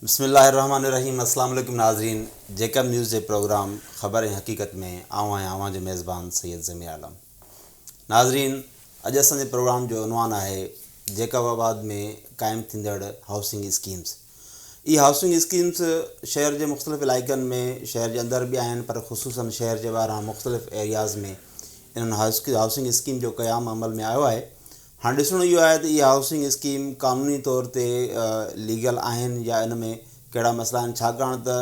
بسم الله الرحمٰن الرحيم اسلام عليڪم ناظرين جيڪب نيوز جي پروگرام خبر ۽ حقيقت ۾ آئون آهيان اوهان جو ميزبان سيد ضمير عالم ناظرين اڄ اسان جي پروگرام جو عنوان آهي جيڪب آباد ۾ قائم ٿيندڙ هائوسنگ اسڪيمز اي هائوسنگ اسڪيمز شهر جي مختلف علائقن ۾ شهر جي اندر به آهن پر خصوصاً شهر جي ٻاهران مختلف ايرياز ۾ انهن هائوسنگ اسڪيم جو قيام عمل ۾ آيو آهي هاڻي ڏسڻو اهو آهي ته اهي هائوسنگ اسڪيم قانوني طور تي ليگل آهن يا ان ۾ ڪهڙا مسئلا آهن ڇاڪاڻ ته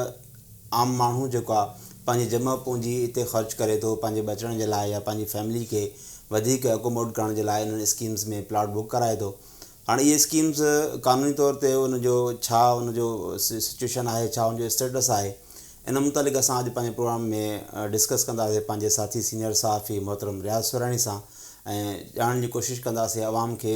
عام ماڻهو جيڪو آهي پنهنجي جمع پونجي اتي خرچ ڪري ٿو پنهنجي بچڻ جي لاء يا پنهنجي فيملي کي وڌيڪ اڪوموڊ ڪرڻ جي لاء انهن اسڪيمز ۾ پلاٽ بڪ ڪرائي ٿو هاڻي اهي اسڪيمز قانوني طور تي ان جو ڇا ان جو سچويشن آهي ڇا ان جو اسٽيٽس آهي ان متعلق اسان اڄ پنهنجي پروگرام ۾ ڊسڪس ڪنداسين پنهنجي ساٿي سينئر صحافي محترم رياض سورهاڻي سان ۽ ڄاڻڻ جي ڪوشش ڪنداسين عوام کي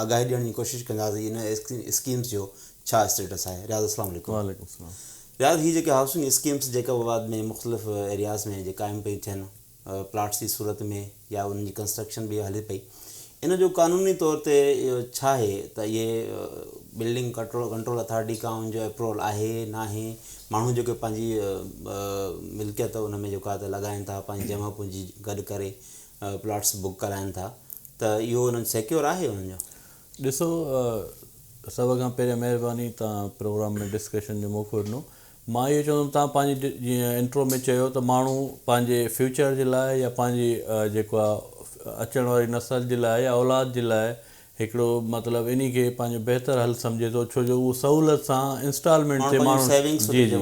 آگاهي ڏيڻ جي ڪوشش ڪنداسين ان اسڪيمز جو ڇا اسٽيٽس آهي رياض السلام عليڪم وعليڪم السلام رياض هي جيڪي هائوسنگ اسڪيمز جيڪب آباد ۾ مختلف ايرياز ۾ جي قائم پيون ٿين پلاٽس جي صورت ۾ يا انهن جي ڪنسٽرڪشن به هلي پئي ان جو قانوني طور تي ڇا آهي ته اهي بلڊنگ ڪنٽرول ڪنٽرول اٿارٽي کان ان جو اپروول آهي ناهي ماڻهو جيڪي پنهنجي ملڪيت ان ۾ جيڪا ته لڳائن ٿا پنهنجي جمع پونجي گڏ ڪري پلاٽس بک ڪرائن ٿا ته اهو انهن سيڪيور آهي انهن جو ڏسو سڀ کان پهريان مهرباني تان پروگرام ۾ ڊسڪشن جو موقعو ڏنو مان اهو چوندم توهان پنهنجي جيئن انٽرو ۾ چيو ته ماڻهو پنهنجي فيوچر جي لاء يا پنهنجي جيڪو آ اچڻ واري نسل جي لاء يا اولاد جي لاء هڪڙو مطلب انهي کي پنهنجو بهتر حل سمجهي ٿو ڇو جو اهو سهولت سان انسٽالمينٽ تي ماڻهو جي جي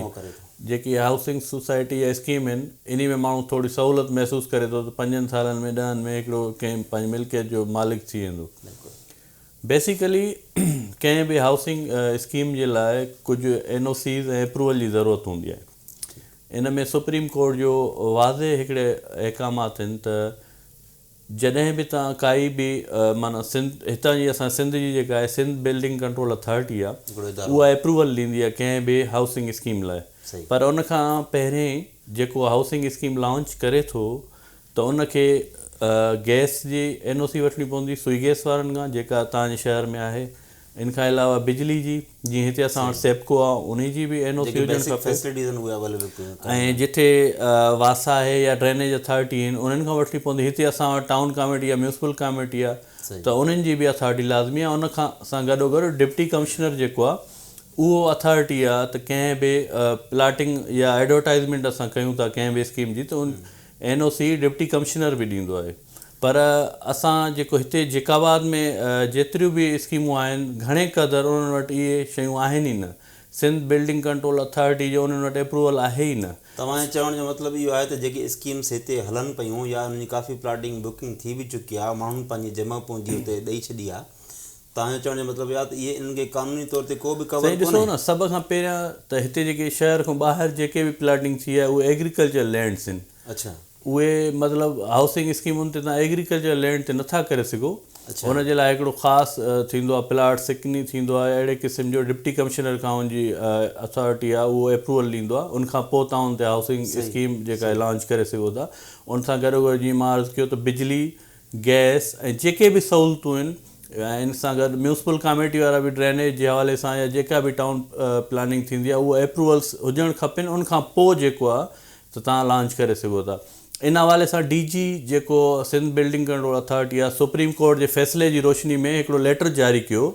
جيڪي هائوسنگ سوسائٽي يا اسڪيم آهن انهي ۾ ماڻهو ٿوري سهولت محسوس ڪري ٿو ته پنجن سالن ۾ ڏهن ۾ هڪڙو ڪنهن پنهنجي ملڪيت جو مالڪ ٿي ويندو بيسيڪلي ڪنهن به هائوسنگ اسڪيم جي لاء ڪجهه اين او سيز ۽ اپروول جي ضرورت هوندي آهي. ان ۾ سپريم ڪورٽ جو واضح هڪڙي احڪام آهن ته جڏهن به توهان ڪائي به معنيٰ سنڌ هتان جي اسان سنڌ جي جيڪا آهي سنڌ بلڊنگ ڪنٽرول اٿارٽي آهي هڪڙو ادارو اها اپروول ڏيندي آهي ڪنهن به هائوسنگ اسڪيم لاء صحيح پر ان کان پهرين جيڪو هائوسنگ اسڪيم لانچ ڪري ٿو ته ان کي گئس جي اين او سي وٺڻي پوندي سوئي گئس وارن کان جيڪا تان جي شهر ۾ آهي ان کان علاوه بجلي جي جي هتي اسان وٽ سيپڪو آ انهي جي به اين او سي هجڻ کپي ۽ جتي واسا آهي يا ڊرينيج اٿارٽي آهن انهن کان وٺڻي پوندي هتي اسان وٽ ٽائون ڪاميٽي يا ميونسپل ڪاميٽي آ ته انهن جي به اٿارٽي لازمي آ ان کان سان گڏو گڏ ڊپٽي ڪمشنر جيڪو آ اهو اٿارٽي آ ته ڪنهن به پلاٽنگ يا ايڊورٽائزمينٽ اسان ڪيون ٿا ڪنهن به اسڪيم جي ته N O C deputy commissioner به ڏيندو آهي پر اسان جيڪو هتي جيڪ آباد ۾ جيتريون به اسڪيمون آهن گهڻي قدر انهن وٽ اهي شيون آهن ئي نه سنڌ بلڊنگ ڪنٽرول اٿارٽي جو انهن وٽ اپروول آهي ئي نه. توهان جي چوڻ جو مطلب اهو آهي ته جيڪي اسڪيمس هتي هلن پيون يا انهن جي ڪافي پلاٽنگ بڪنگ ٿي به چڪي آهي ماڻهن پنهنجي جمع پونجي اتي ڏئي ڇڏي آهي تنهنجو چوڻ جو مطلب اهو آهي ته اهي انهن کي قانوني طور تي ڪو به ڪور ڪونهي؟ سائين ڏسو نه سڀ کان پهريان ته هتي جيڪي شهر کان ٻاهر جيڪي به پلاٽنگ ٿي آهي اهي ايگريڪلچر لينڊس آهن اهي مطلب هائوسنگ اسڪيمن تي تون ايگريڪلچر لينڊ تي نٿا ڪري سگهو ان جي لاء هڪڙو خاص ٿيندو آهي پلاٽ سڪني ٿيندو آهي اهڙي قسم جو ڊپٽي ڪمشنر کان ان جي اٿارٽي آهي اهو ايپروول ڏيندو آهي ان کان پوء تون هتي هائوسنگ اسڪيم جيڪا لانچ ڪري سگهو ٿا ان سان گڏوگڏ جيئن مان عرض ڪيو ته بجلي گئس ۽ جيڪي به سهولتون آهن ۽ ان سان گڏ ميونسپل ڪاميٽي وارا به ڊرينيج جي حوالي سان يا جيڪا به ٽائون پلاننگ ٿيندي آهي اهي اپروولس هجڻ کپين ان کان پوء جيڪو آهي ته تهان لانچ ڪري سگهو ٿا ان حوالي سان ڊي جي جيڪو سنڌ بلڊنگ ڪنٽرول اٿارٽي آهي سپريم ڪورٽ جي فيصلي جي روشني ۾ هڪڙو ليٽر جاري ڪيو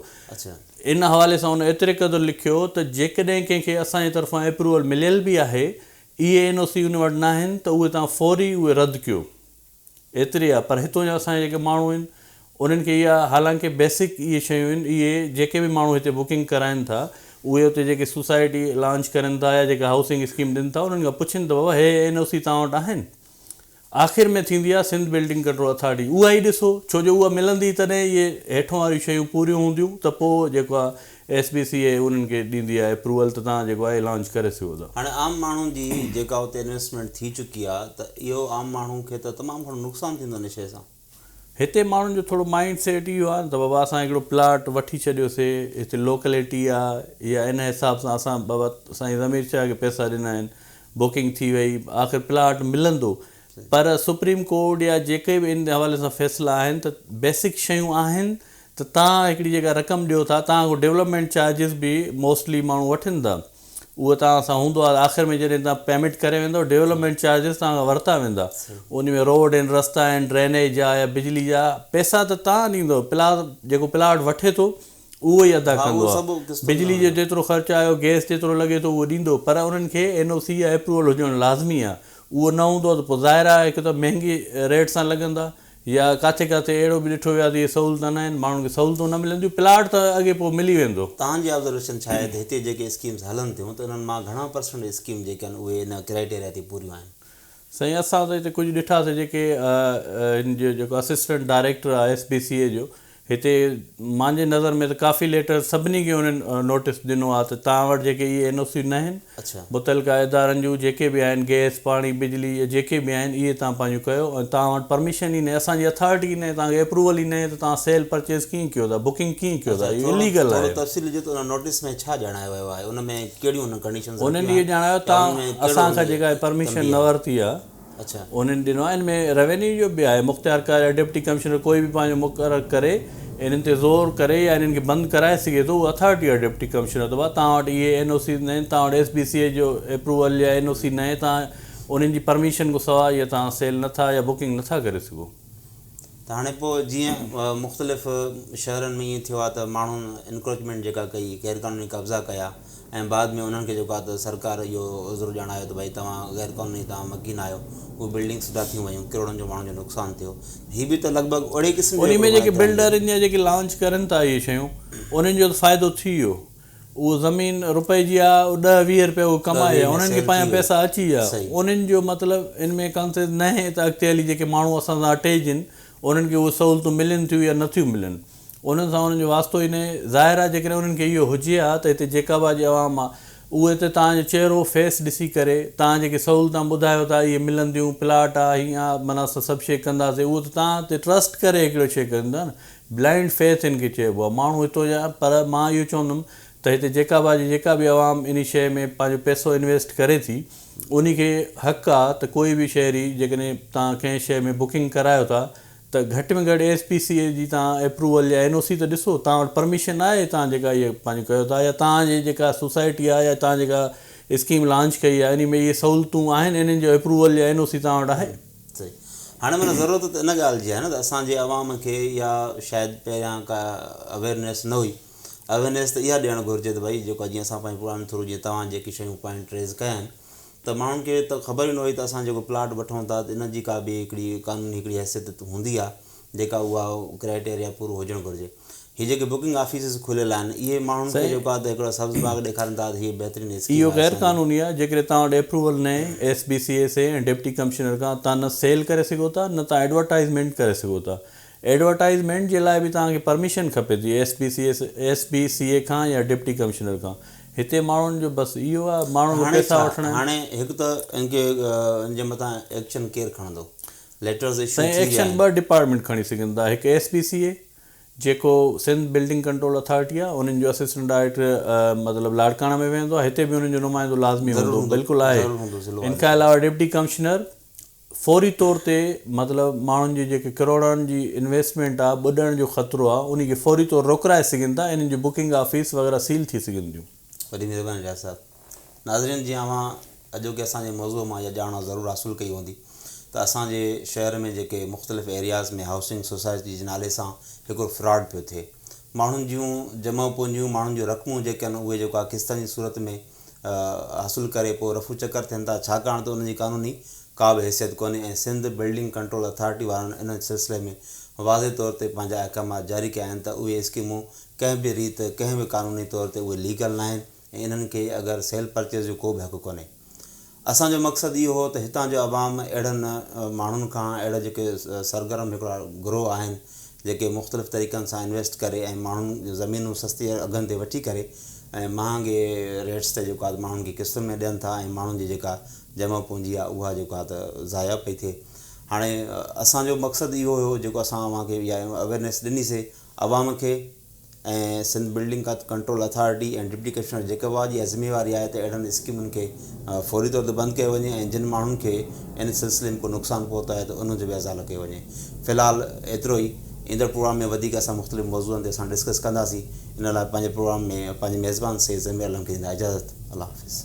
ان حوالي سان ان ايتري قدر لکيو ته جيڪڏهن ڪنهن کي اسان جي طرفان اپروول مليل به آهي اي اين او سي ان وٽ ناهن ته اهي تهان فوري اهي رد ڪيو ايتري آ پر هتون جا اسان جا جيڪي ماڻهو آهن انهن کي اها حالانڪه بيسڪ اهي شيون آهن اهي جيڪي به ماڻهو هتي بڪنگ ڪرائن ٿا اهي اتي جيڪي سوسائٽي لانچ ڪرن ٿا يا جيڪا هائوسنگ اسڪيم ڏين ٿا انهن کان پڇين ته بابا هي اين او سي توهان وٽ آهن آخر ۾ ٿيندي آ سنڌ بلڊنگ ڪنٽرول اٿارٽي اها ئي ڏسو ڇو جو اها ملندي تڏهن اهي هيٺون واريون شيون پوريون هونديون ته پوء جيڪو آ ايس بي سي اي انهن کي ڏيندي آهي اپروول ته تهان جيڪو آهي لانچ ڪري سگهو ٿا. هاڻي عام ماڻهن جي جيڪا اتي انويسٽمينٽ ٿي چڪي آهي ته اهو عام ماڻهو کي ته تمام گهڻو نقصان ٿيندو ان شيء سان. هتي ماڻهن جو ٿورو مائنڊ سيٽ اهو آهي نه ته بابا اسان هڪڙو پلاٽ وٺي ڇڏيوسي هتي لوڪليٽي آ يا ان حساب سان اسان بابا سائين ضمير شاهه کي پئسا ڏنا آهن بڪنگ ٿي وئي آخر پلاٽ ملندو پر سپريم ڪورٽ يا جيڪي به ان حوالي سان فيصلا آهن ته بيسڪ شيون آهن ته تان هڪڙي جيڪا رقم ڏيو ٿا تان کان ڊيولپمينٽ چارجز به موسٽلي ماڻهو وٺن ٿا اهو تان سان هوندو آهي آخر ۾ جڏهن تان پيمينٽ ڪري ويندو ڊيولپمينٽ چارجز تان کان ورتا ويندا ان ۾ روڊ آهن رستا آهن ڊرينيج جا يا بجلي جا پيسا ته تان ڏيندو پلا جيڪو پلاٽ وٺي ٿو اهو ئي ادا ڪندو آهي بجلي جو جيترو خرچ آيو گيس جيترو لڳي ٿو اهو ڏيندو پر انهن کي اين او سي يا اپروول هجڻ لازمي آهي اهو نه هوندو ته پوء ظاهر آهي هڪ ته مهنگي ريٽ سان لڳندا يا ڪاٿي ڪاٿي اهڙو به ڏٺو ويو آهي ته اهي سهولتون نه آهن، ماڻهن کي سهولتون نه ملنديون، پلاٽ ته اڳي پوء ملي ويندو. توهان جي آبزرويشن ڇا آهي ته هتي جيڪي اسڪيمز هلن ٿيون ته انهن مان گهڻا پرسنٽ اسڪيم جيڪي آهن اهي ان ڪرائيٽيريا تي پوريون آهن؟ سائين اسان ته هتي ڪجهه ڏٺاسي جيڪي هن جو جيڪو اسسٽنٽ ڊائريڪٽر آهي ايس بي سي اي جو هتي مانجي نظر ۾ ته ڪافي ليٽر سڀني کي انهن نوٽيس ڏنو آهي ته توهان وٽ جيڪي اهي اين او سيون ناهن متعلقه ادارن جون جيڪي به آهن گئس پاڻي بجلي يا جيڪي به آهن اهي توهان پنهنجون ڪيو ۽ توهان وٽ پرميشن ئي ناهي اسان جي اٿارٽي ئي ناهي توهان کي اپروول ئي ناهي ته توهان سيل پرچيز ڪيئن ڪيو ٿا بڪنگ ڪيئن ڪيو ٿا اهو اليگل آهي. انهن اهي ڄاڻايو ته اسان کان جيڪا پرميشن نه ورتي آهي. انهن ڏنو آهي، ان ۾ روينيو جو به آهي، مختيار ڪار يا ڊپٽي ڪمشنر ڪوئي به پنهنجو مقرر ڪري انهن تي زور ڪري يا انهن کي بند ڪرائي سگهي ٿو، اها اٿارٽي آهي ڊپٽي ڪمشنر ته ڀا توهان وٽ اهي اين او سيز ناهن، توهان وٽ ايس بي سي اي جو اپروول يا اين او سي ناهي، توهان انهن جي پرميشن کان سواء اهي توهان سيل نٿا يا بڪنگ نٿا ڪري سگهو. ته هاڻي پوء جيئن مختلف شهرن ۾ ائين ٿيو آهي ته ماڻهن انڪروچمينٽ جيڪا ڪئي غير قانوني قبضا ڪيا ۽ بعد ۾ انهن کي جيڪو آهي ته سرڪار اهو عذر ڄاڻايو ته ڀائي توهان غير قانوني توهان مڪين آهيو اهي بلڊنگس سڌا ٿيون ويون ڪروڙن جو ماڻهن جو نقصان ٿيو هي به ته لڳ ڀڳ اهڙي قسم جو انهي ۾ جيڪي بلڊر ان جا جيڪي لانچ ڪرن ٿا اهي شيون انهن جو ته فائدو ٿي ويو اهو زمين روپئي جي آ، او ڏهه ويهه روپيه اهو ڪمائي آ، انهن کي پنهنجا پئسا اچي ويا. انهن جو مطلب ان ۾ ڪانسيس ناهي ته اڳتي هلي جيڪي ماڻهو اسان سان اٽيجن، انهن کي اهي سهولتون ملن ٿيون يا نٿيون ملن. انهن سان انهن جو واسطو ئي ناهي. ظاهر آ جيڪڏهن انهن کي اهو هجي ها ته هتي جيڪب آ جي عوام آ، اهي هتي توهان جو چهرو، فيس، ڏسي ڪري، توهان جيڪي سهولتان ٻڌايو ٿا اهي ملنديون، پلاٽ آ، هيئن آ، معنيٰ اسان سڀ شيء ڪنداسين، اهو ته توهان تي ٽرسٽ ڪري هڪڙو شيء ڪن ٿا نه. بلائنڊ فيٿ ان کي چئبو آهي. ماڻهو هتو جا پر مان اهو چوندم ته هتي جيڪا به آجي جيڪا به عوام انهي شيء ۾ پنهنجو پئسو انويسٽ ڪري ٿي انهي کي حق آ ته ڪوئي به شهري جيڪڏهن تان ڪنهن شيء ۾ بڪنگ ڪرايو ٿا ته گهٽ ۾ گهٽ ايس پي سي اي جي تان اپروول يا اين او سي ته ڏسو تان وٽ پرميشن آهي تان جيڪا اهي پنهنجو ڪيو ٿا يا تان جي جيڪا سوسائٽي آهي يا تان جيڪا اسڪيم لانچ ڪئي آهي انهي ۾ اهي سهولتون آهن انهن جو اپروول يا اين او سي تان وٽ آهي. سهي. هاڻي معنيٰ ضرورت ته ان ڳالهه جي آهي نه ته اسان جي عوام کي اها شايد پهريان ڪا اويرنيس نه هئي. اويرنيس ته اها ڏيڻ گهرجي ته ڀائي جيڪو جيئن اسان پنهنجي پراڻي ٿرو جيئن توهان جيڪي شيون پوائنٽ ريز ڪيا آهن ته ماڻهن کي ته خبر ئي نه هئي ته اسان جيڪو پلاٽ وٺون ٿا ته ان جي ڪا به هڪڙي قانوني هڪڙي حيثيت هوندي آهي. جيڪا اها ڪرائيٽيريا پورو هجڻ گهرجي هي جيڪي بڪنگ آفيسز کليل آهن اهي ماڻهن کي جيڪو آهي ته هڪڙو سبز باغ ڏيکارين ٿا ته هي بهترين اسڪيم آهي اهو غير قانوني آهي جيڪڏهن توهان وٽ ايپروول نه هي S B C S A ۽ deputy commissioner کان توهان نه سيل ڪري سگهو ٿا نه توهان ايڊورٽائيزمينٽ ڪري سگهو ٿا ايڊورٽائيزمينٽ جي لاء به توهان کي پرميشن کپي ٿي S B C S S B C A کان يا ڊپٽي ڪمشنر کان هتي ماڻهن جو بس اهو آهي ماڻهن کي پيسا وٺڻا آهن هاڻي هڪ ته ان کي ان جي مٿان ايڪشن ڪير کڻندو ليٽرز ايشو سائين ٿي ويا ايڪشن آهن. ٻه ڊپارٽمينٽ کڻي سگهن ٿا هڪ ايس بي سي اي جيڪو سنڌ بلڊنگ ڪنٽرول اٿارٽي آهي انهن جو اسسٽنٽ ڊائريڪٽر مطلب لاڙڪاڻه ۾ ويهندو آهي هتي به انهن جو نمائندو لازمي ضرور هوندو هوندو بلڪل آهي ضرور هوندو ضلعو ان کان آزاد علاوه ڊپٽي ڪمشنر فوري طور تي مطلب ماڻهن جي جيڪي ڪروڙن جي انويسٽمينٽ آهي ٻڏڻ جو خطرو آهي انهي کي فوري طور روڪرائي سگهن ٿا انهن جون بڪنگ آفيس وغيره سيل ٿي سگهن ٿيون. وڏي مهرباني رياض صاحب. ناظرين جي اوهان اڄوڪي اسان جي موضوع مان اها ڄاڻ ضرور حاصل ڪئي هوندي ته اسان جي شهر ۾ جيڪي مختلف ايرياز ۾ هائوسنگ سوسائٽي جي نالي سان هڪڙو فراڊ پيو ٿئي ماڻهن جون جمع پونجيون ماڻهن جون رقمون جيڪي آهن اهي جيڪو آهي قسطن جي صورت ۾ حاصل ڪري پوء رفو چڪر ٿين ٿا ڇاڪاڻ ته ان جي قانوني ڪا به حيثيت ڪونهي ۽ سنڌ بلڊنگ ڪنٽرول اٿارٽي وارن ان سلسلي ۾ واضح طور تي پنهنجا احڪامات جاري ڪيا آهن ته اهي اسڪيمون ڪنهن به ريت ڪنهن به قانوني طور تي اهي ليگل ناهن ۽ انهن کي اگر سيل پرچيز جو ڪو به حق ڪونهي. اسان جو مقصد اهو هو ته هتان جو عوام اهڙن ماڻهن کان اهڙا جيڪي سرگرم هڪڙا گروهه آهن جيڪي مختلف طريقن سان انويسٽ ڪري ۽ ماڻهن جون زمينون سستي اگهن تي وٺي ڪري ۽ مهانگي ريٽس تي جيڪو آهي ماڻهن کي قسطن ۾ ڏين ٿا ۽ ماڻهن جي جيڪا جمع پونجي آهي اها جيڪو آهي ته ضايع پئي ٿئي هاڻي اسان جو مقصد اهو هو جيڪو اسان اوهان کي اها اويرنيس ڏني سي عوام کي ۽ Sindh building control authority ۽ deputy commissioner جيڪبا جي عزمي واري آهي ته اهڙن اسڪيمن کي فوري طور تي بند ڪيو وڃي ۽ جن ماڻهن کي ان سلسلي ۾ ڪو نقصان پهتو آهي ته ان جو به ازالو ڪيو وڃي في الحال ايترو ئي ايندڙ پروگرام ۾ وڌيڪ اسان مختلف موضوعن تي اسان ڊسڪس ڪنداسين ان لاء پنهنجي پروگرام ۾ پنهنجي ميزبان سيد ضمير علم کي ڏيندا اجازت الله حافظ.